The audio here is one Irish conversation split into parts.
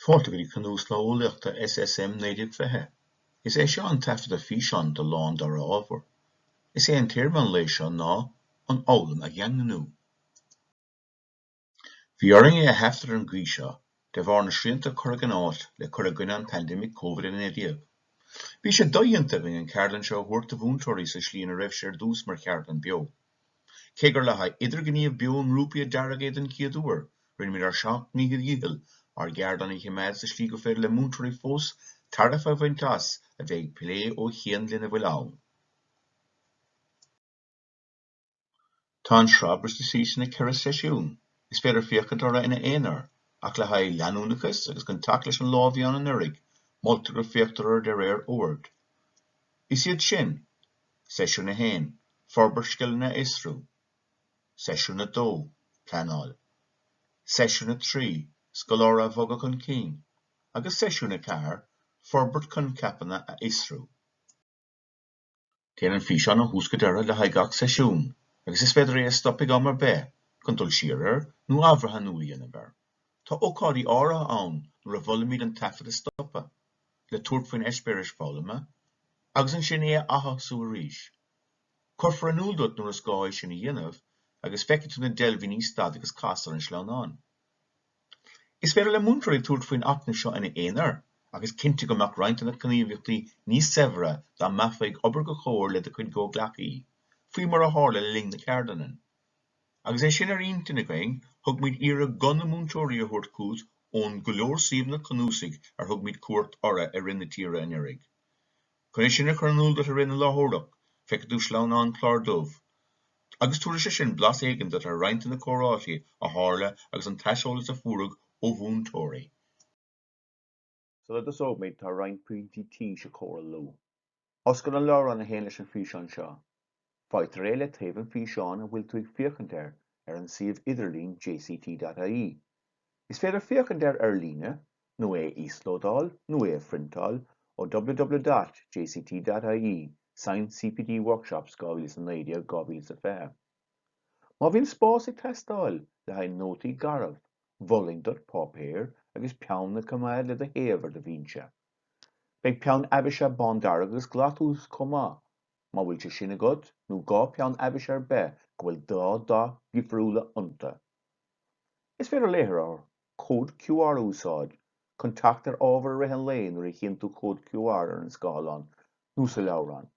Fáilte go dtí Cnuaslá Eolaíochta SSM 1920. Is é seo an taifeadadh físeáin de lá an dara ábhar. Is é an téama an lae seo ná an fhoghlaim a dhaingniú. Bhí orainn é a thaifead ar an gcaoi seo de bharr na srianta a cuireadh in áit le cur i gcoinne an paindéimic COVID-19. Bhí sé dodhéanta againn an ceardlann seo a thabhairt do mhúinteoirí sa slí ina raibh sé ar dtús mar cheardlann beo. Cé gur le haghaidh idirghníomh beo i ngrúpaí a dearadh é den chéad uair, rinneamid ár seacht ndícheall dhícheall ár gceardlann a choimeád sa slí gur féidir le múinteoirí fós tairbhe a bhaint as a bheith ag plé ó chian lena bhfuil ann. Tá an sraith briste síos ina ceithre seisiún, is féidir féachaint orthu ina aonar, ach le haghaidh leanúnachas agus chun teacht leis an lá a bhí ann anuraidh, moltar go féachtar orthu de réir oird. Is iad sin. Seisiún 1, Forbairt Scileanna a Fhiosrú Seisiún 2, Pleanáil Seisiún 3, Scoláire a Bhogadh chun Cinn agus Seisiún 4, Forbairt Coincheapanna a Fhiosrú. Téann an físeán ó thús go deireadh le haghaidh gach seisiún agus is féidir é a stop ag am ar bith chun dul siar air nó athbhreathnú a dhéanamh air. Tá ócáidí áirithe ann nuair a mholaimid an taifead a stopadh, le tabhairt faoin eispéireas foghlama agus ansin é a atosú arís. Cuirfear in iúl duit nuair is gá é sin a dhéanamh agus feicfidh tú na deilbhíní Stad agus Cas ar an sleamhnán. Is féidir le múinteoirí tabhairt faoin acmhainn seo ina aonar ach is cinnte go mbeadh roinnt de na gníomhaíochtaí níos saibhre dá mbeifeá ag obair i gcomhar le do chuid gcomhghleacaí, faoi mar a tharla le linn na ceardlainne. Agus é sin ar intinn againn, thug muid iarraidh guth na múinteoirí a thabhairt chugat ón go leor suíomhanna cnuasaigh ar thug muid cuairt orthu i rith na tíre anuraidh. Chun é sin a chur in iúl duit i rith na láithreoireacht, feicfidh tú sleamhnán clár dubh, agus tabharfaidh sé sin blas éigin duit ar roinnt de na comhráití a tharla agus an t-aiseolas a fuaireadh ó mhúinteoirí. Sula dtosóimid, tá roinnt pointí tís a chomhairliú. Oscail an leabhrán a théann leis an bhfíseán seo. Faightear é le taobh an físeáin a bhfuil tú ag féachaint air ar an suíomh idirlín jct.ie. Is féidir féachaint air ar líne, nó é a íoslódáil, nó é a phriontáil ó ww.jct.ie, Science CPD Workshops 2019, 2020. Má bhíonn spás ag teastáil le haghaidh nótaí garbh, mholfainn duit páipéar agus peann a choimeád le do thaobh ar do bhinse. Beidh peann aibhsithe bándearg agus glas uait chomh maith, má bhfuil sé sin agat, nó dhá pheann aibhsithe ar bith go bhfuil dhá dath dhifriúla iontu. Is féidir léitheoir Cód QR a úsáid chun teacht ar ábhar i rith an lae nuair a chíonn tú Cód QR ar an scáileán nó sa leabhrán,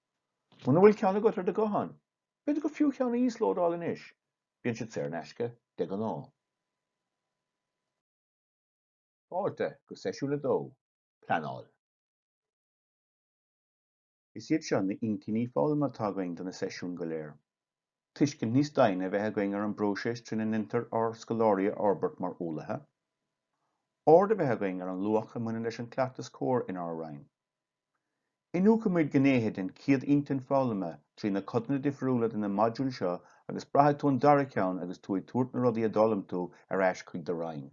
muna bhfuil ceann agat ar do ghuthán. B'fhéidir gur fiú cheann a íoslódáil anois, bíonn siad saor in aisce de ghnáth. Fáilte go Seisiún 2, Pleanáil. Is iad seo na hintinní foghlama atá againn do na seisiúin go léir. Tuiscint níos doimhne a bheith againn ar an bpróiseas trína ndéantar ár scoláirí a fhorbairt mar eolaithe. Aird a bheith againn ar an luach a bhaineann leis an cleachtas comhair inár roinn. Iniúchfaimid gnéithe den chéad intinn foghlama trí na codanna difriúla de na modúil seo agus braithfidh tú an dara ceann agus tú ag tabhairt na rudaí a d'fhoghlaim tú ar ais chuig do roinn.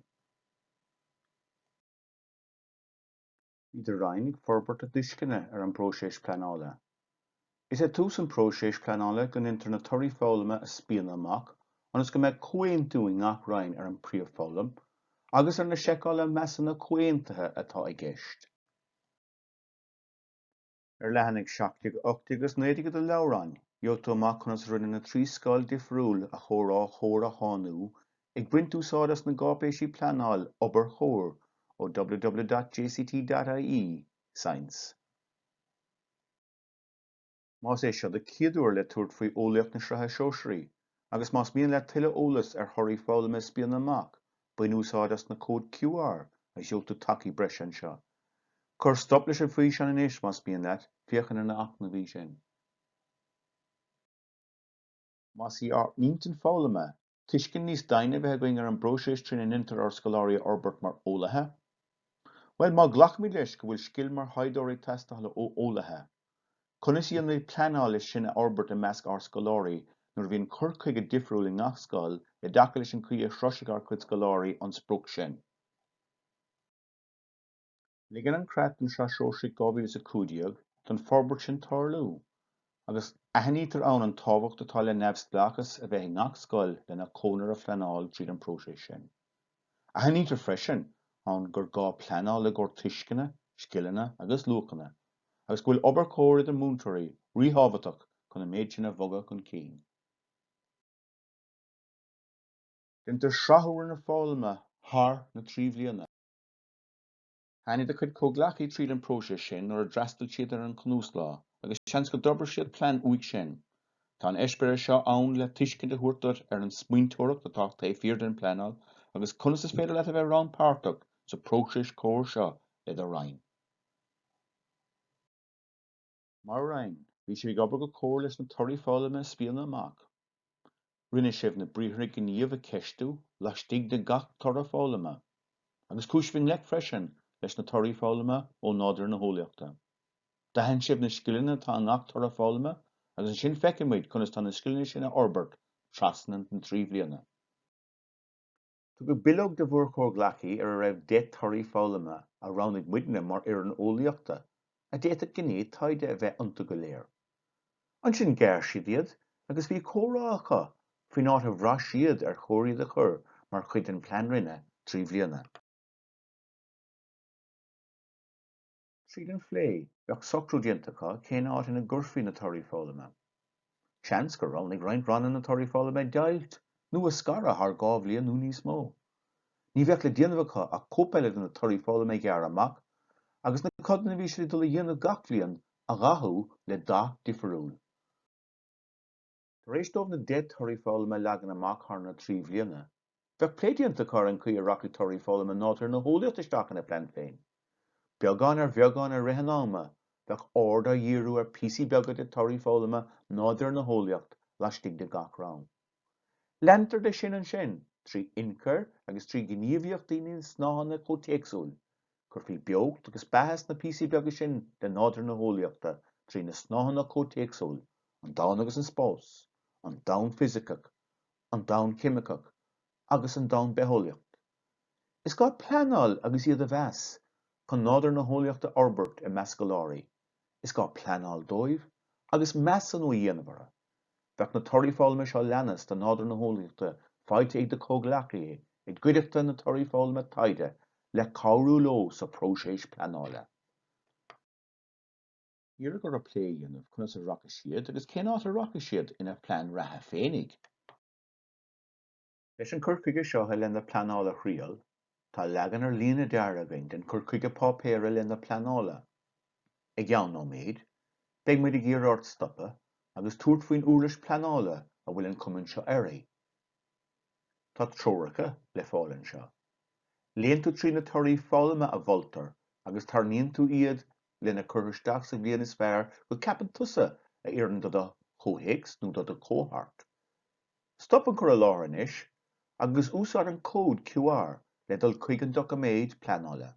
Bhí do roinn ag forbairt a dtuisceana ar an bpróiseas pleanála. Is ag tús an phróisis pleanála go ndéantar na torthaí foghlama a spíonadh amach ionas go mbeadh comhaontú i ngach roinn ar an bpríomhfhoghlaim agus ar na seiceálacha measúnaithe comhaontaithe atá i gceist. Ar leathanaigh 17, 18 agus 19 de do leabhrán, gheobhaidh tú amach conas a rinneadh na trí scoil difriúil a chomhrá chomhair a shainiú, ag baint úsáid as na gcáipéisí pleanáil obair chomhair ó www.jct.ie, Science. más é seo do chéad uair le tabhairt faoi Eolaíocht na Sraithe Sóisearaí, agus más mian leat tuilleadh eolas ar thorthaí foghlama a spíonadh amach, bain úsáid as na cód QR a sheolfaidh tú chuig tacaí breise anseo. Cuir stop leis an físeán anois más mian leat féachaint ar na hacmhainní sin. Más í ár n-intinn foghlama tuiscint níos doimhne a bheith againn ar an bpróiseas trína ndéantar ár scoláirí a fhorbairt mar eolaithe? Bhuel, má ghlacaimid leis go bhfuil scil mar thaighdeoir ag teastáil ó eolaithe, conas a dhéanaimid pleanáil leis sin a fhorbairt i measc ár scoláirí nuair a bhíonn cur chuige difriúil i ngach scoil i dtaca leis an gcaoi a shroisfidh ár gcuid scoláirí an sprioc sin? Ligeann an creat don tSraith Shóisearach 2015 don forbairt sin tarlú agus aithnítear ann an tábhacht atá le neamhspleáchas a bheith i ngach scoil lena conair a phleanáil tríd an bpróiseas sin. Aithnítear freisin ann gur gá pleanáil le haghaidh tuisceana, scileanna agus luachanna agus go bhfuil obair chomhair idir múinteoirí ríthábhachtach chun an méid sin a bhogadh chun cinn. Déantar srathú ar an bhfoghlaim thar na trí bhliana. Tháinig do chuid comhghleacaithe tríd an bpróiseas sin nuair a d'fhreastail siad ar an cnuaslá, agus seans go d'fhorbair siad plean uaidh sin. Tá an eispéireas seo ann le tuiscint a thabhairt duit ar an smaointeoireacht atá taobh thiar den phleanáil agus conas is féidir leat a bheith rannpháirteach sa próiseas comhair seo i do Roinn. Mar Roinn, bhí sibh ag obair go comhair leis na torthaí foghlama a spíonadh amach. Rinne sibh na briathra gníomh a cheistiú laistigh de gach toradh foghlama, agus chuaigh sibh i ngleic freisin leis na torthaí foghlama ó nádúr na heolaíochta. D'aithin sibh na scileanna atá i ngach toradh foghlama agus ansin d'fhéach muid conas tá na scileanna sin a fhorbairt trasna na trí bhliana. Tugadh bileog do bhur gcomhghleacaí ar a raibh deich dtorthaí foghlama a roghnaigh muidne mar fhoireann eolaíochta, a d'fhéadfadh gné taighde a bheith iontu go léir. Ansin ghearr siad iad agus bhí comhrá acu faoin áit a bhraith siad ar chóir iad a chur mar chuid den Plean Roinne trí bliana. Tríd an phlé, bheadh socrú déanta acu cén áit ina gcuirfí na torthaí foghlama. Seans gur roghnaigh roinnt ranna na torthaí foghlama a dheighilt nó a scaradh thar dhá bhliain nó níos mó. Ní bheadh le déanamh acu ach cóip eile de na torthaí foghlama a ghearradh amach agus na codanna a bhí siad ag dul a dhéanamh gach bliain a dhathú le dath difiriúil. Tar éis dóibh na deich torthaí foghlama a leagan amach thar na trí bhliana, bheadh plé déanta acu ar an gcaoi a rachadh torthaí foghlama Nádúr na hEolaíochta isteach ina plean féin. Beagán ar bheagán i rith an ama, bheadh aird á díriú ar phíosaí beaga de thorthaí foghlama Nádúr na hEolaíocht laistigh de gach roinn. Leantar de sin ansin trí inchur agus trí ghníomhaíochtaí ó na snáitheanna comhthéacsúil, Cuirfí beocht agus beatha sna píosaí beaga sin de nádúr na heolaíochta trí na snáitheanna comhtéacsúil, an domhan agus an spás, an domhan fisiceach, an domhan ceimiceach agus an domhan bitheolaíocht. Is gá pleanáil agus iad a mheas, chun nádúr na heolaíochta a fhorbairt i measc scoláirí, is gá pleanáil dóibh agus measúnú a dhéanamh orthu. Bheadh na torthaí foghlama seo a leanas do nádúr na heolaíochta faighte ag do comhghleacaithe i gcuideachta na torthaí foghlama taighde le cabhrú leo sa phróiseas pleanála. Iarradh orthu plé a dhéanamh conas a rachadh siad agus cén áit a rachadh siad ina plean reatha féinig. Leis an gcur chuige seo i leith na pleanála a thriail, tá leagan ar líne deartha againn den chur chuige páipéir i leith na pleanála. I gceann nóiméid, beidh muid ag iarraidh ort stopadh agus tabhairt faoin uirlis pleanála a bhfuil an cuma seo uirthi. Tá treoracha le fáil anseo. Léann tú trí na torthaí foghlama a mholtar agus tarraingíonn tú iad lena cur isteach sa bhliain is fearr go ceapann tusa a oireann do do chomhthéacs nó do do chohórt. Stop an cur i láthair anois agus úsáid an cód QR le dul chuig an doiciméad pleanála.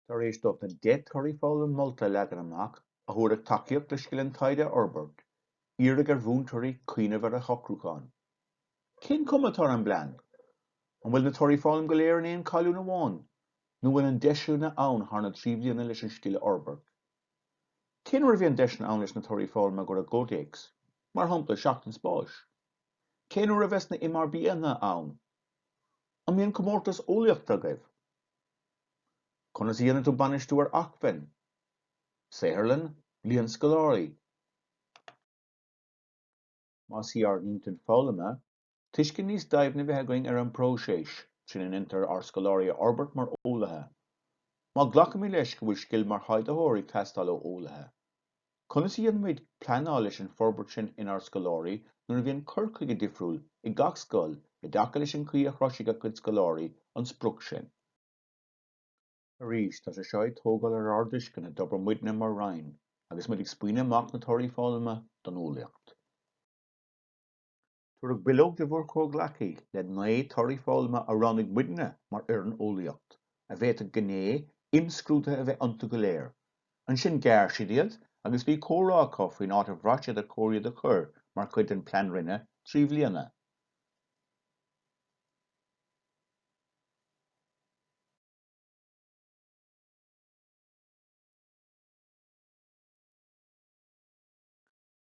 Tar éis dóibh na 10 dTorthaí Foghlama Molta a leagan amach, a thabharfaidh tacaíocht le scil an taighde a fhorbairt, iarradh ar mhúinteoirí cuimhneamh ar a socrúchán. Cén chuma atá ar an bplean? An bhfuil na Torthaí Foghlama go léir in aon colún amháin, nó an bhfuil deiseanna ann thar na trí bhliana leis an scil a fhorbairt? Cén uair a bhíonn deiseanna ann leis na torthaí foghlama a chur i gcomhthéacs, mar shampla seachtain spáis? Cén uair a bheas na MRBIanna ann? An mbíonn comórtas eolaíochta agaibh? Conas a dhéanann tú bainistiú ar acmhainn? Saotharlann? Bliain scoláirí? Más é ár n-intinn foghlama tuiscint níos doimhne a bheith againn ar an bpróiseas trína ndéantar ár scoláirí a fhorbairt mar eolaithe. Má ghlacaimid leis go bhfuil scil mar thaighdeoir ag teastáil ó eolaithe, conas a dhéanaimid pleanáil leis an bhforbairt sin inár scoláirí nuair a bhíonn cur chuige difriúil ag gach scoil i dtaca leis an gcaoi a shroisfidh a gcuid scoláirí an sprioc sin? Arís, tá sé seo ag tógáil ar ár dtuisceana d'obair muidne mar Roinn agus muid ag scaoileadh amach na torthaí foghlama don eolaíocht. Tabharfadh bileog do bhur gcomhghleacaí le 9 torthaí foghlama a roghnaigh muidne mar fhoireann Eolaíocht, a bhféadfadh gné imscrúdaithe a bheith iontu go léir. Ansin ghearr siad iad agus bhí comhrá acu faoin áit a bhraith siad ar chóir iad a chur mar chuid den Plean Roinne trí bhliana.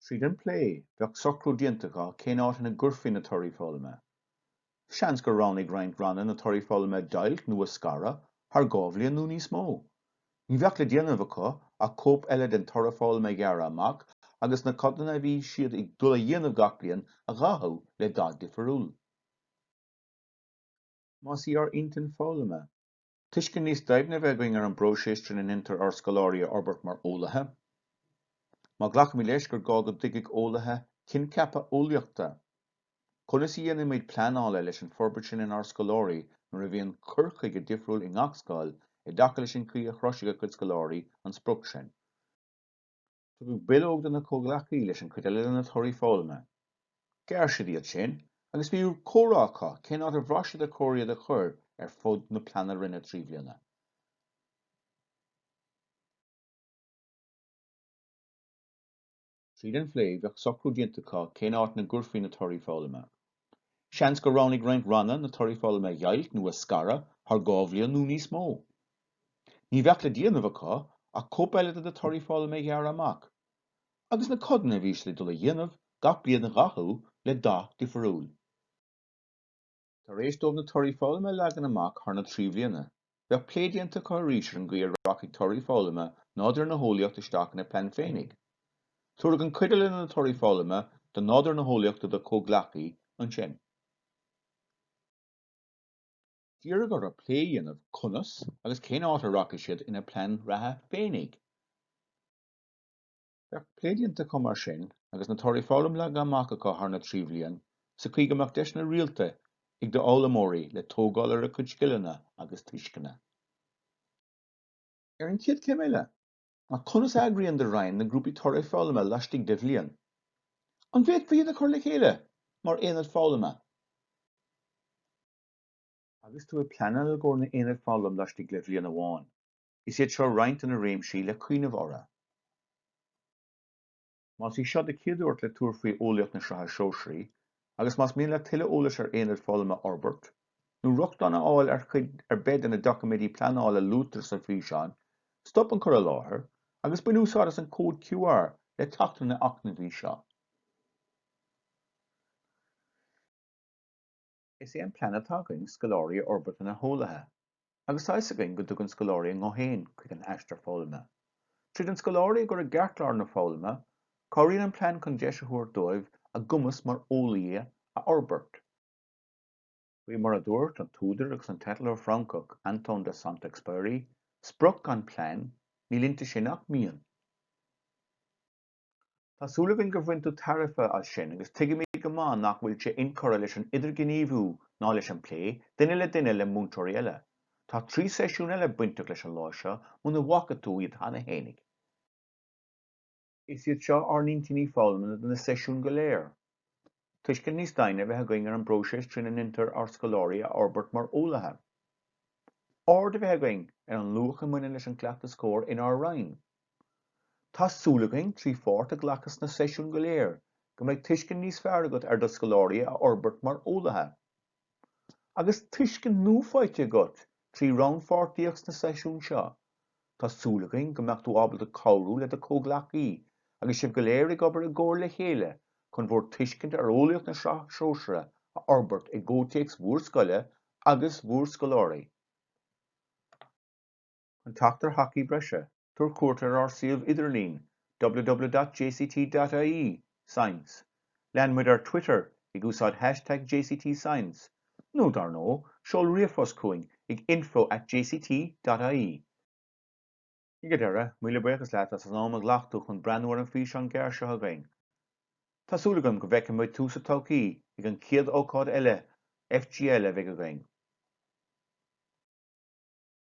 Tríd an bplé, bheadh socrú déanta acu cén áit ina gcuirfí na torthaí foghlama. Seans gur roghnaigh roinnt ranna na torthaí foghlama a dheighilt nó a scaradh thar dhá bhliain nó níos mó. Ní bheadh le déanamh acu ach cóip eile den toradh foghlama a ghearradh amach agus na codanna a bhí siad ag dul a dhéanamh gach bliain a dhathú le dath difriúil. Más é ár n-intinn foghlama. Tuiscint níos doimhne a bheith againn ar an bpróiseas trína ndéantar ár scoláirí a fhorbairt mar eolaithe. Má ghlacaimid leis gur gá go dtuigfeadh eolaithe coincheapa eolaíochta, conas a dhéanaimid pleanáil leis an bhforbairt sin inár scoláirí nuair a bhíonn cur chuige difriúil i ngach scoil i dtaca leis an gcaoi a shroisfidh a gcuid scoláirí an sprioc sin? Tugadh bileog do na comhghleacaí leis an chuid eile de na torthaí foghlama. Ghearr siad iad sin agus bhí comhrá acu cén áit a bhraith siad ar chóir iad a chur ar fud na pleanna roinne trí bhliana. Tríd an phlé bheadh socrú déanta acu cén áit ina gcuirfí na torthaí foghlama. Seans gur roghnaigh roinnt ranna na torthaí foghlama a dheighilt nó a scaradh thar dhá bhliain nó níos mó. Ní bheadh le déanamh acu ach cóip eile de na torthaí foghlama a ghearradh amach, agus na codanna a bhí siad ag dul a dhéanamh gach bliain a dhathú le dath difiriúil. Tar éis dóibh na torthaí foghlama a leagan amach thar na trí bhliana, Bheadh plé déanta acu arís ar an gcaoi a rachadh torthaí foghlama nádúr na heolaíochta isteach ina bplean féinig. Tabharfaidh an chuid eile de na torthaí foghlama de nádúr na heolaíochta do chomhghleacaithe ansin. D'iarrfá orthu plé a dhéanamh conas agus cén áit a rachaidís siad ina bplean reatha féinig. Bheadh plé déanta acu mar sin, agus na torthaí foghlama leagtha amach acu thar na trí bhliain, sa chaoi go mbeadh deiseanna rialta ag d'fhoghlaimeoirí le tógáil ar a cuid scileanna agus tuisceana. Ar an gcéad chéim eile ná conas a eagraíonn do Roinn na grúpaí torthaí foghlama laistigh de bhliain. An bhféadfaí iad a chur le chéile mar aonaid foghlama? Agus tú ag pleanáil i gcomhair na n-aonad foghlama laistigh de bhliain amháin, Is iad seo roinnt de na réimsí le cuimhneamh orthu. Más í seo do chéad uair le tabhairt faoi Eolaíocht na Sraithe Sóisearaí, agus más mian leat tuilleadh eolais ar aonaid foghlama a fhorbairt, nó rochtain a fháil ar chuid ar bith de na doiciméidí pleanála a luaitear sa bhfíseán, stop an cur i láthair agus bain úsáid as an cód QR le teacht ar na hacmhainní seo. Is é an plean atá againn scoláirí a fhorbairt ina heolaithe, agus tá 'fhios againn go dtugann scoláirí a nguth féin chuig an aistear foghlama. Tríd an scoláire a chur i gceartlár na foghlama, cabhraíonn an plean chun deis a thabhairt dóibh a gcumas mar eolaí a fhorbairt, faoi mar a dúirt an t-údar agus an t-eitleoir Francach Antoine de Saint-Exupéry, 'Sprioc gan plean, níl inti sin ach mian! Tá súil againn gur bhain tú tairbhe as sin agus tuigimid go maith nach bhfuil sé incurtha leis an idirghníomhú ná leis an bplé, duine le duine, le múinteoirí eile. Tá trí seisiún eile bainteach leis an lá seo, muna bhfaca tú iad cheana fhéinig. Is iad seo ár n-intinní foghlama do na seisiúin go léir. tuiscint níos doimhne a bheith againn ar an bpróiseas trína ndeintear ár scoláirí a fhorbairt mar eolaithe, aird a bheith againn ar an luach a mbaineann leis an gcleachtas comhair inár Roinn. Tá súil againn, trí pháirt a ghlacadh sna seisiúin go léir, go mbeidh tuiscint níos fearr agat ar do scoláirí a fhorbairt mar eolaithe. Agus tuiscint nua faighte agat trí rannpháirtíocht sna seisiúin seo, tá súil againn go mbeadh tú ábalta cabhrú le do chomhghleacaithe agus sibh go léir ag obair i gcomhar le chéile chun bhur dtuiscint ar Eolaíocht na Sraithe Sóisearaí a fhorbairt i gcomhtéacs bhur scoile agus bhur scoláirí. Chun teacht ar thacaí breise, tabhair cuairt ar ár suíomh idirlín www.jct.ie, science, lean muid ar Twitter ag úsáid hashtag jctscience, nó dar ndóigh, seol ríomhphost chugainn ag info at jct.ie. Ag an deireadh, míle buíochas leat as an am a ghlac tú chun breathnú ar an físeán gearr seo againn. Tá súil agam go bhfeicfidh muid tú sa todhchaí ag an chéad ócáid eile FGL a bheidh againn.